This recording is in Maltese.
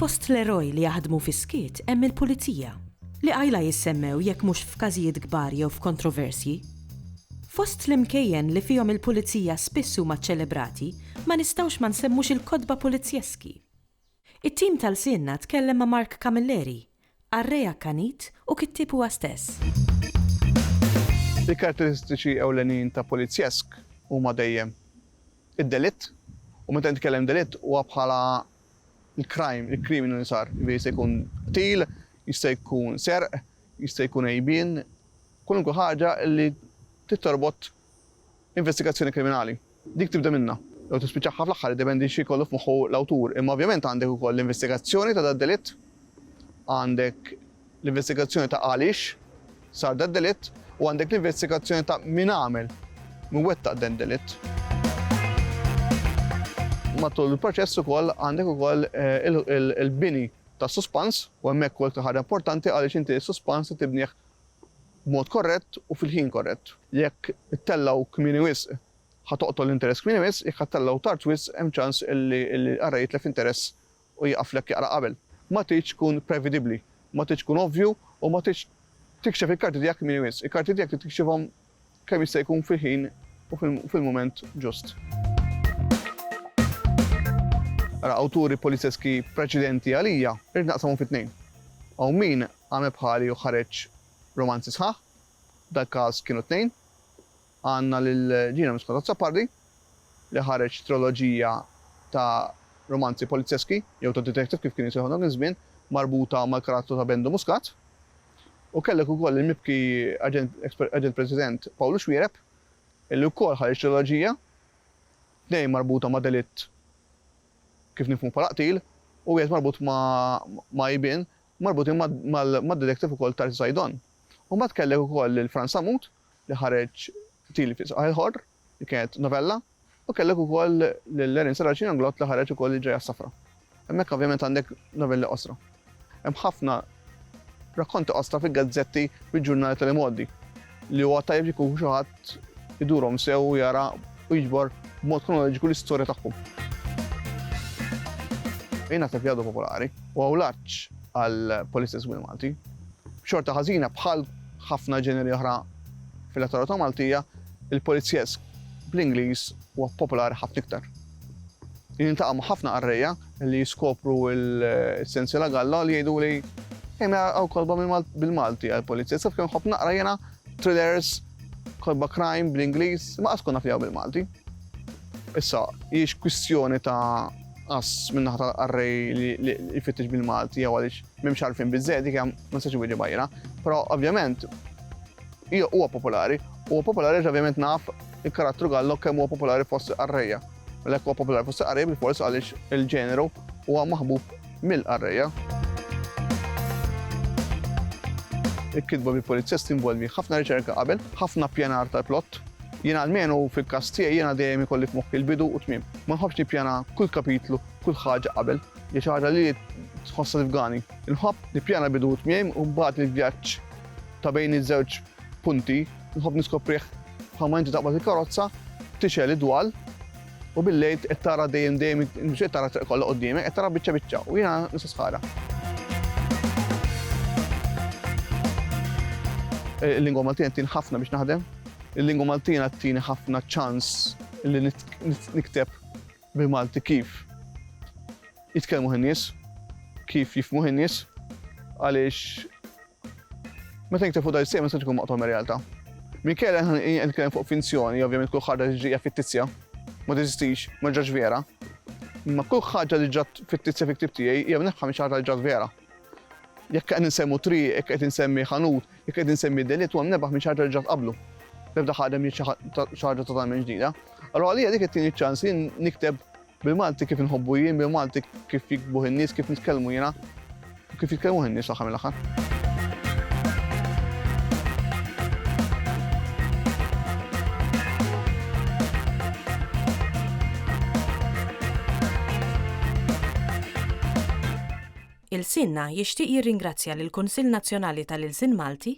Fost l-eroj li jaħdmu fis-skiet hemm il-pulizija, li qajla jissemmew jekk mhux f'każijiet kbar jew f'kontroversji. Fost l-imkejjen li fihom il-pulizija spiss huma ċċelebrati ma nistgħux ma nsemmux il-kotba pulizjeski. It-tim ta' lsienna tkellem ma' Mark Camilleri, qarrej akkanit u kittieb huwa stess. Il-karatteristiċi ewlenin ta' polizzjesk huma dejjem id-delitt, u meta nitkellem delitt huwa bħala l-crime, il-kriminu li sar. Jiġifieri jista' jkun qtil, jista' jkun serq, jista' jkun għejbien, kwalunkwe ħaġa li trid torbot Investigazzjoni kriminali, dik tibda minnha, jew tispiċċaha fl-aħħar jiddependi xi jkollu f'moħħu l-awtur, imma ovvjament għandek ukoll l-investigazzjoni ta' dad-delitt, għandek l-investigazzjoni ta' għaliex sar dad-delitt u għandek l-investigazzjoni ta' min għamel, min wettaq dad-delitt. Matul il-proċess ukoll għandek ukoll il-bini tas-suspans u hemmhekk ukoll xi ħaġa importanti għaliex inti s-suspans tibnih b'mod korrett u fil-ħin korrett. Jekk ittellgħu kmieni wisq, ħa toqtol l-interess kmieni wisq, jekk ħa ttellgħu tard wisq, hemm ċans li l-qari jitlef interess u jieqaflek jaqra qabel. Ma tridx tkun prevedibbli, ma tridx tkun ovvju u ma tridx tikxef il-karti tiegħek kmieni wisq. Il-karti tiegħek trid tikxifhom kemm jista' jkun fil-ħin u fil-mument ġust. Ara awturi polizeski preċedenti għalija, irrid naqsamhom fi tnejn. Hawn min għamel bħali u ħareġ romanzi sħaħ, f'dal-każ kienu tnejn. Għandna lil Gina Miskotatz Capardi, li ħareġ troloġija ta' rumanzi polizjeski, jew ta' detective kif kienu jsejħulhom dak iż-żmien, marbuta mal-karattru ta' Bendu Muscat. U kellek ukoll il-mibki Aġent, ex Aġent President, Pawlu Xuereb, illi wkoll ħareġ troloġija, tnejn marbuta ma' delitt kif nifhmuh bħala qtil, u wieħed marbut ma' ma' għibien marbutin mad-detective ukoll Tarsi Saidon. U mbagħad kellek ukoll lil Frans Sammut li ħareġ qtil fis-sqaħ il-ħorr. li kienet novella, u kellek ukoll lil Erin Sarracini Anglott li ħareġ ukoll Il-Ġrajja s-Safra. Hemmhekk ovvjament għandek novelli qosra. Hemm ħafna rakkonti qosra fi gazzetti fi ġurnali tal-imgħoddi li huwa tajjeb li kieku xi ħadd idurhom sew u jara u jiġbor b'mod kronoloġiku l-istorja tagħhom. Jien naħseb li għadu popolari u għawlaċ għal polistiżmu Malti. Xorta ħażina bħal ħafna ġeneri oħra fil-letteratura Maltija, Il-polizzjesk, bl-Ingliż, huwa popolari ħafna iktar. Jien niltaqa' ma' ħafna qarrejja li jiskopru l-sensiela Galla li jgħiduli Ej, mela hawn kolba bil-Malti għall-polizzjesk, taf kemm nħobb naqra jiena thrillers, kolba crime bl-Ingliż, ma qatt konna fija bil-Malti. Issa, hiex kwistjoni ta' qas minn naħa tal-qarrej li jfittex bil-Malti jew għaliex m'hemmx għarfien biżżejjed dik ma nistax iwieġibha jiena, però ovvjament Iva, huwa popolari. Huwa popolari għax ovvjament naf il-karattru Gallo kemm huwa popolari fost il-qarrejja. Mela jekk huwa popolari fost il-qarrejja bilfors għaliex il-ġeneru huwa maħbub mill-qarrejja. Il-kitba bil-polizzjest tinvolvi ħafna riċerka qabel, ħafna ppjanar tal-plott. Jiena almenu fil-każ tiegħi jiena dejjem ikolli f'moħħi l-bidu u t-tmiem. Ma nħobbx nippjana kull kapitlu, kull ħaġa qabel. Hija xi ħaġa li tħossha tifgani. Inħobb nippjana l-bidu u t-tmiem u mbagħad il-vjaġġ ta' bejn iż-żewġ punti, nħobb niskoprih bħalma inti taqbad il-karozza, tixel id-dwal u bil-lejl qed tara dejjem dejjem mhux qed tara triq kollha quddiemek, qed tara biċċa biċċa u jiena nista' sħara. Eh, il-lingwa Maltina tin ħafna biex naħdem, il-lingwa Maltina tini ħafna ċans li nikteb bil-Malti kif jitkellmu ħin-nies, kif jifmu ħin-nies, għaliex Meta jikteb fuq dan is-sejħa ma jistax ikun maqtugħ mir-realtà. Minkejja li aħna qed nitkellem fuq finzjoni, ovvjament kull ħaġa li ġejja fittizja, ma teżistix, ma ġrax vera. Imma kull ħaġa li ġat fittizja fi ktieb tiegħi hija mneħħa minn xi ħaġa li ġat vera. Jekk qed insemmu tri, jekk qed insemmi ħanut, jekk qed insemmi delitt huwa mnebaħ minn xi ħaġa li ġat qablu. L-ebda ħaġa mhijiex xi ħaġa totalment ġdida. Allura għalija dik it-tieni ċans li nikteb Bil-Malti kif inħobbu jien, bil-Malti kif jikbuh in-nies, kif nitkellmu jiena, u kif jitkellmuh in-nies l-aħħar mill-aħħar. Ilsienna jixtieq jirringrazzja lill-Kunsill Nazzjonali tal-Ilsien Malti,